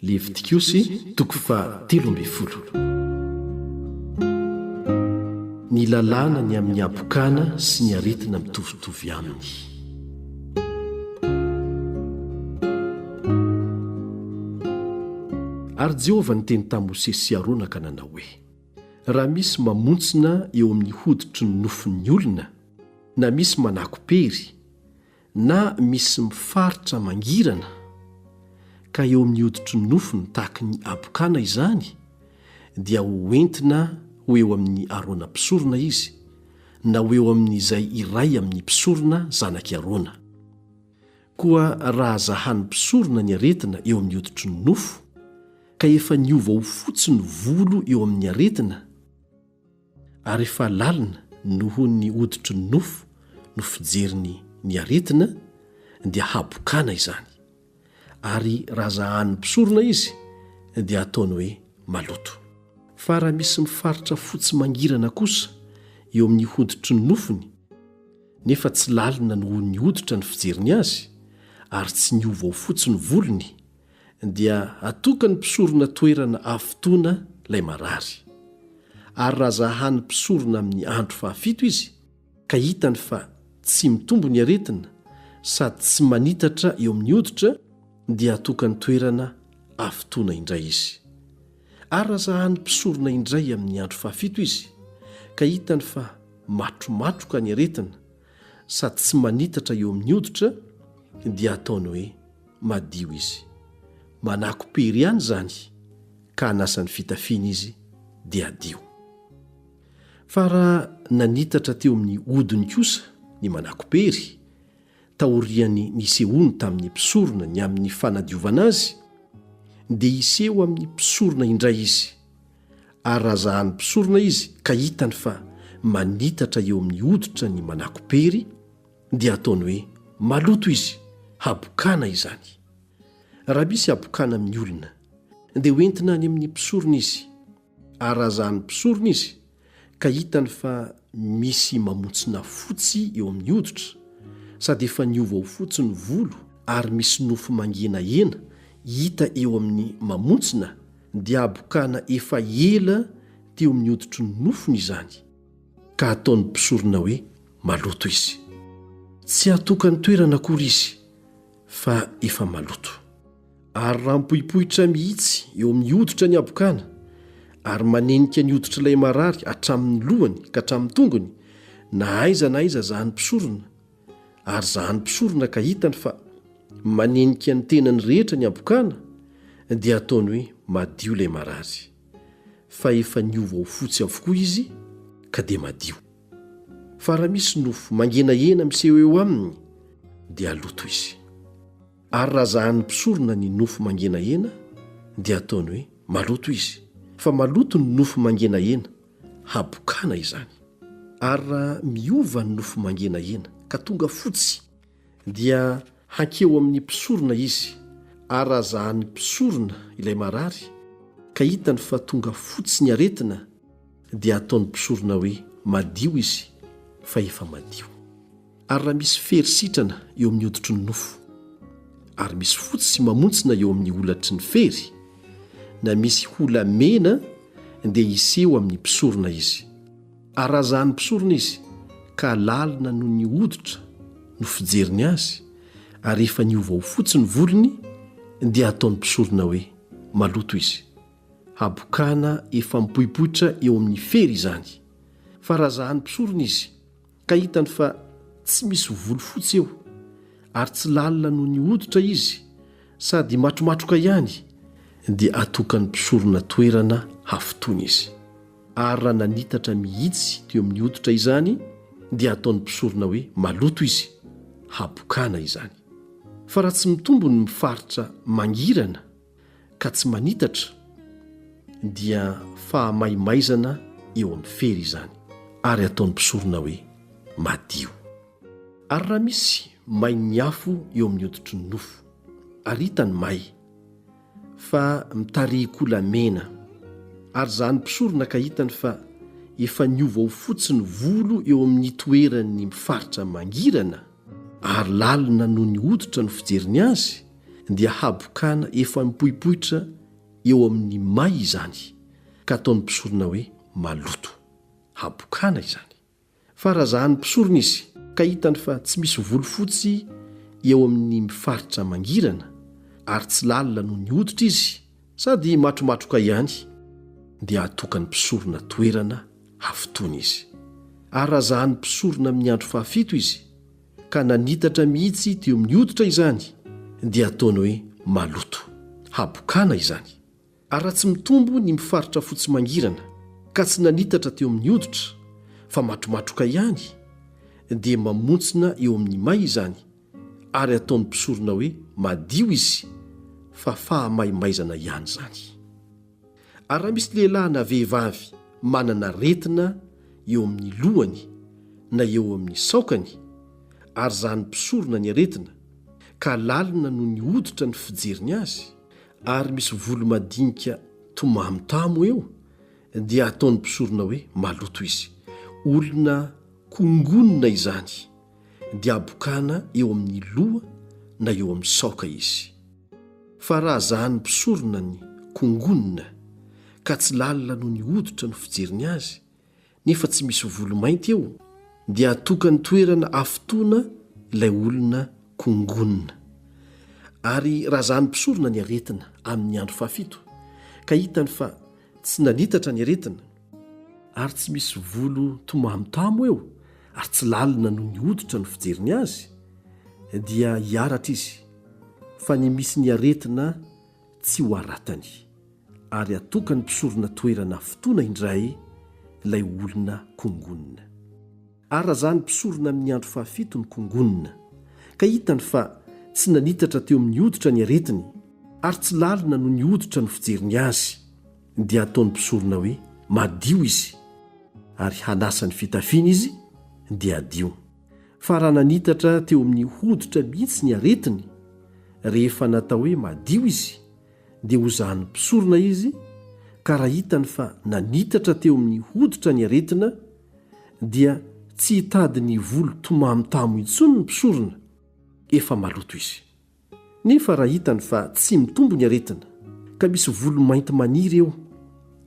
Levitikosy toko faha telo ambin'ny folo. Ny lalàna ny amin'ny habokana sy ny aretina mitovitovy aminy. Ary Jehovah niteny tamin'i Mosesy sy Arona ka nanao hoe, Raha misy mamontsina eo amin'ny hoditry ny nofon'ny olona, na misy manako-pery, Na misy mifaritra mangirana ka eo amin'ny hoditry ny nofony tahaky ny habokana izany dia ho entina ho eo amin'ny Arona mpisorona izy na ho eo amin'izay iray amin'ny mpisorona zanak'i Arona. Koa raha zahan'ny mpisorona ny aretina eo amin'ny hoditry ny nofo ka efa niova ho fotsy ny volo eo amin'ny aretina, ary efa lalina noho ny hoditry ny nofo no fijeriny ny aretina, dia habokana izany, ary raha zahan'ny mpisorona izy, dia ataony hoe maloto. Fa raha misy mifaritra fotsy mangirana kosa eo amin'ny hoditry ny nofony, nefa tsy lalina noho ny hoditra ny fijeriny azy, ary tsy niova ho fotsy ny volony, dia atokan'ny mpisorona toerana afotoana ilay marary. Ary raha zahan'ny mpisorona amin'ny andro fahafito izy, ka hitany fa tsy mitombo ny aretina sady tsy manitatra eo amin'ny hoditra, dia atokany toerana afotoana indray izy. Ary raha zahan'ny mpisorona indray amin'ny andro fahafito izy, ka hitany fa matromatroka ny aretina sady tsy manitatra eo amin'ny hoditra, dia ataony hoe, madio izy. Manako-pery ihany izany ka hanasa ny fitafiany izy dia hadio. Fa raha nanitatra teo amin'ny hodiny kosa ny manako-pery, taorian'ny nisehoany tamin'ny mpisorona ny amin'ny fanadiovana azy, dia hiseho amin'ny mpisorona indray izy, ary raha zahan'ny mpisorona izy ka hitany fa manitatra eo amin'ny hoditra ny manako-pery, dia ataony hoe maloto izy habokana izany. Raha misy habokana amin'ny olona dia ho entina any amin'ny mpisorona izy ary raha zahan'ny mpisorona izy ka hitany fa misy mamontsina fotsy eo amin'ny hoditra sady efa niova ho fotsy ny volo ary misy nofo mangenahena hita eo amin'ny mamontsina dia habokana efa ela teo amin'ny hoditry ny nofony izany. ka ataon'ny mpisorona hoe maloto izy. Tsy atokany toerana akory izy fa efa maloto. Ary raha mipoipoitra mihitsy eo amin'ny hoditra ny habokana, ary manenika ny hoditr'ilay marary hatramin'ny lohany ka hatramin'ny tongony, na aiza na aiza zahan'ny mpisorona, ary zahan'ny mpisorona ka hitany fa manenika ny tenany rehetra ny habokana, dia ataony hoe madio ilay marary. fa efa niova ho fotsy avokoa izy ka dia madio. Fa raha misy nofo mangenahena miseho eo aminy dia aloto izy. Ary raha zahan'ny mpisorona ny nofo mangenahena dia ataony hoe maloto izy, fa maloto ny nofo mangenahena, habokana izany. Ary raha miova ny nofo mangenahena ka tonga fotsy, Dia hankeo amin'ny mpisorona izy, ary raha zahan'ny mpisorona ilay marary, ka hitany fa tonga fotsy ny aretina, dia hataon'ny mpisorona hoe madio izy, fa efa madio. Ary raha misy fery sitrana eo amin'ny hoditry ny nofo, ary misy fotsy sy mamontsina eo amin'ny holatry ny fery, na misy hola mena, dia hiseho amin'ny mpisorona izy. Arazahan'ny mpisorona izy, ka lalina noho ny hoditra no fijeriny azy, ary rehefa niova ho fotsy ny volony, dia ataon'ny mpisorona hoe maloto izy. Habokana efa mipoipoitra eo amin'ny fery izany. Fa razahan'ny mpisorona izy, ka hitany fa tsy misy volo fotsy eo, ary tsy lalina noho ny hoditra izy, sady matromatroka ihany, dia atokan'ny mpisorona toerana hafotoana izy. ary raha nanitatra mihitsy teo amin'ny hoditra izany dia ataon'ny mpisorona hoe maloto izy, habokana izany. Fa raha tsy mitombo ny mifaritra mangirana ka tsy manitatra dia fahamaimaizana eo amin'ny fery izany, ary ataon'ny mpisorona hoe madio. Ary raha misy main'ny afo eo amin'ny hoditry ny nofo, ary hita ny may, fa mitarihin-kolamena ary izany mpisorona ka hitany fa efa niova ho fotsy ny volo eo amin'ny toeran'ny faritra mangirana ary lalina noho ny hoditra no fijeriny azy dia habokana efa mipoipoitra eo amin'ny may izany ka ataon'ny mpisorona hoe maloto. Habokana izany. fa razahan'ny mpisorona izy ka hitany fa tsy misy volofotsy eo amin'ny faritra mangirana ary tsy lalina noho ny hoditra izy sady matromatroka ihany dia hatokan'ny mpisorona toerana hafotoana izy. Ary razahan'ny mpisorona amin'ny andro fahafito izy ka nanitatra mihitsy teo amin'ny hoditra izany dia ataony hoe maloto, habokana izany. Ary raha tsy mitombo ny mifaritra fotsy mangirana ka tsy nanitatra teo amin'ny hoditra fa matromatroka ihany dia mamontsina eo amin'ny may izany ary ataon'ny mpisorona hoe madio izy fa fahamaimaizana ihany izany. Ary raha misy lehilahy na vehivavy manana aretina eo amin'ny lohany na eo amin'ny saokany ary zahan'ny mpisorona ny aretina ka lalina noho ny hoditra ny fijeriny azy, ary misy volo madinika tomamitamo eo dia ataon'ny mpisorona hoe maloto izy. Olona kongonina izany dia abokana eo amin'ny loha na eo amin'ny saoka izy. Fa raha zahan'ny mpisorona ny kongonina ka tsy lalina noho ny hoditra no fijeriny azy nefa tsy misy volo mainty eo dia atokany toerana afotoana ilay olona kongonina. Ary raha zany mpisorona ny aretina amin'ny andro fahafito ka hitany fa tsy nanitatra ny aretina, ary tsy misy volo tomamitamo eo ary tsy lalina noho ny hoditra no fijeriny azy, dia hiaratra izy fa ny misy ny aretina tsy ho aratany ary atokany mpisorona toerana fotoana indray ilay olona kongonina. Arazany mpisorona amin'ny andro fahafito ny kongonina ka hitany fa tsy nanitatra teo amin'ny hoditra ny aretiny ary tsy lalina noho ny hoditra no fijeriny azy dia ataony mpisorona hoe madio izy ary hanasa ny fitafiany izy dia hadio. Fa raha nanitatra teo amin'ny hoditra mihitsy ny aretiny, rehefa natao hoe madio izy, dia ho zahan'ny mpisorona izy, ka raha hitany fa nanitatra teo amin'ny hoditra ny aretina, dia tsy hitady ny volo tomamotamo intsony ny mpisorona, efa maloto izy. Nefa raha hitany fa tsy mitombo ny aretina, ka misy volo mainty maniry eo,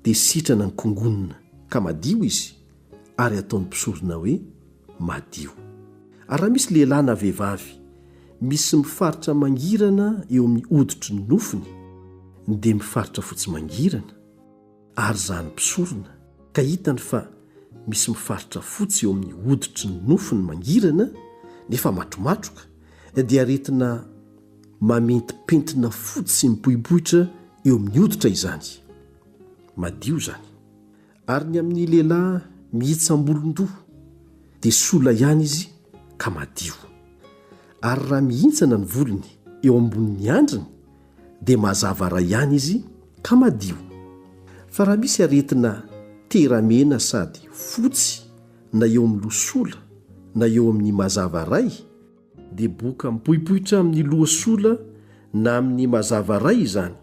dia sitrana ny kongonona ka madio izy, ary ataony mpisorona hoe, Madio. Ary raha misy lehilahy na vehivavy misy mifaritra mangirana eo amin'ny hoditry ny nofony, dia mifaritra fotsy mangirana, ary izany mpisorona ka hitany fa misy mifaritra fotsy eo amin'ny hoditry ny nofony mangirana nefa matromatroka dia aretina mamentipentina fotsy mipoipoitra eo amin'ny hoditra izany. Madio izany. Ary ny amin'ny lehilahy mihitsam-bolon-doha dia sola ihany izy ka madio. Ary raha mihintsana ny volony eo ambonin'ny andriny dia mazava ray ihany izy ka madio fa raha misy aretina tera-mena sady fotsy na eo amin'ny loha sola na eo amin'ny mazava ray dia boka mipoipoitra amin'ny loha sola na amin'ny mazava ray izany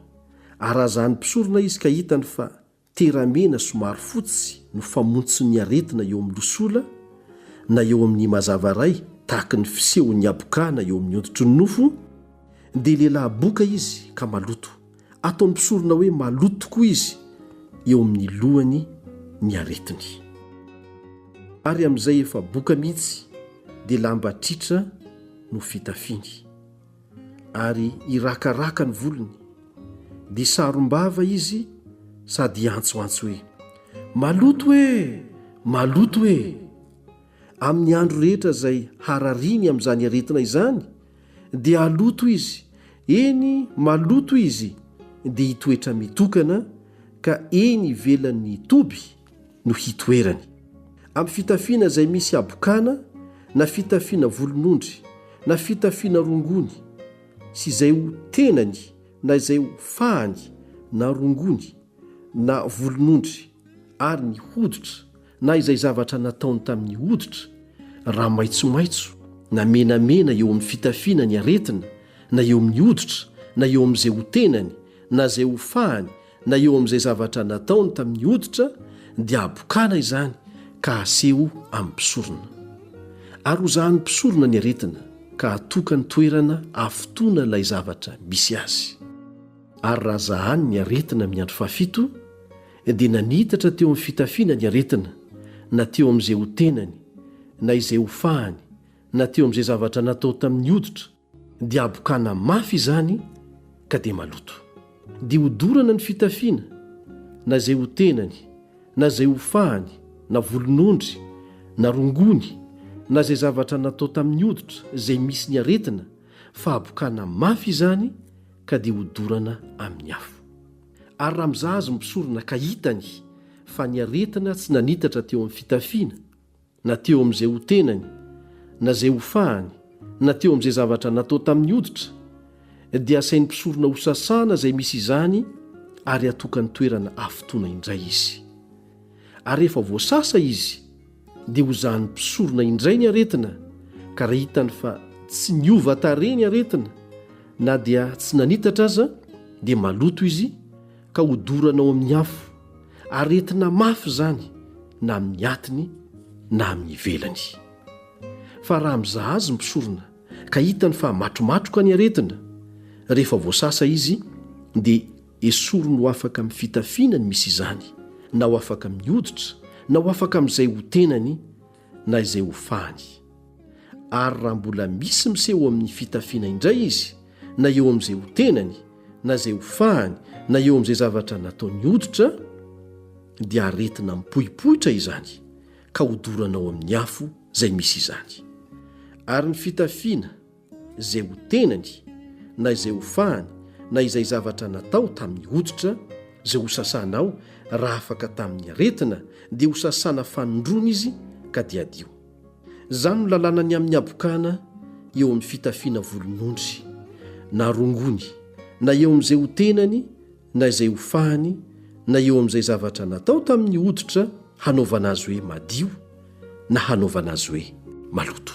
ary raha zany mpisorona izy ka hitany fa Teramena somary fotsy no famontsin'ny aretina eo amin'ny losola na eo amin'ny mazava iray tahaka ny fisehon'ny habokana eo amin'ny hoditry ny nofo, dia lehilahy boka izy ka maloto. Ataon'ny mpisorona hoe maloto tokoa izy eo amin'ny lohany ny aretiny. Ary amin'izay efa boka mihitsy dia lamba tritra no fitafiny. ary hirakaraka ny volony, dia sarom-bava izy sady hiantsoantso hoe, Maloto e! Maloto e! Amin'ny andro rehetra izay harariany amin'izany aretina izany, dia haloto izy, eny maloto izy, dia hitoetra mitokana, ka eny ivelan'ny toby no hitoerany. Amin'ny fitafiana izay misy habokana na fitafiana volonondry na fitafiana rongony sy izay ho tenany na izay ho fahany na rongony na volonondry ary ny hoditra na izay zavatra nataony tamin'ny hoditra raha maitsomaitso na menamena eo amin'ny fitafiana ny aretina na eo amin'ny hoditra na eo amin'izay ho tenany na izay ho fahany Na eo amin'izay zavatra nataony tamin'ny hoditra dia habokana izany ka haseho amin'ny mpisorona. Ary hozahan'ny mpisorona ny aretina ka hatoka ny toerana hafotoana ilay zavatra misy azy. Ary raha zahany ny aretina amin'ny andro fahafito, dia nanitatra teo amin'ny fitafiana ny aretina, na teo amin'izay ho tenany, na izay ho fahany, na teo amin'izay zavatra natao tamin'ny hoditra, dia habokana mafy izany ka dia maloto. Dia hodorana ny fitafiana, na izay ho tenany, na izay ho fahany, na volon'ondry, na rongony, na izay zavatra natao tamin'ny hoditra izay misy ny aretina, fa habokana mafy izany ka dia hodorana amin'ny afo. Ary raha mizaha azy ny mpisorona ka hitany fa ny aretina tsy nanitatra teo amin'ny fitafiana, na teo amin'izay ho tenany, na izay ho fahany, na teo amin'izay zavatra natao tamin'ny hoditra, dia asain'ny mpisorona hosasana izay misy izany ary hatokany toerana hafotoana indray izy. Ary rehefa voasasa izy, dia hozahan'ny mpisorona indray ny aretina, ka raha hitany fa tsy niova tarehy ny aretina, na dia tsy nanitatra aza, dia maloto izy, ka hodorana ao amin'ny afo, aretina mafy izany na amin'ny atiny na amin'ny ivelany. Fa raha mizaha azy ny mpisorona ka hitany fa matromatroka ny aretina, rehefa voasasa izy dia esoriny ho afaka amin'ny fitafiana ny misy izany, na ho afaka amin'ny hoditra, na ho afaka amin'izay ho tenany, na izay ho fahany. Ary raha mbola misy miseho amin'ny fitafiana indray izy, na eo amin'izay ho tenany, na izay ho fahany, na eo amin'izay zavatra nataony hoditra, dia aretina mipoipoitra izany ka hodorana ao amin'ny afo izay misy izany. Ary ny fitafiana izay ho tenany, na izay ho fahany, na izay zavatra natao tamin'ny hoditra, izay ho sasanao, raha afaka tamin'ny aretina, dia ho sasana fanondroana izy, ka dia adio. Izany no lalàna ny amin'ny habokana eo amin'ny fitafiana volon'ondry, na rongony, na eo amin'izay ho tenany, na izay ho fahiny na eo amin'izay zavatra natao tamin'ny hoditra hanaovana azy hoe madio na hanaovana azy hoe maloto.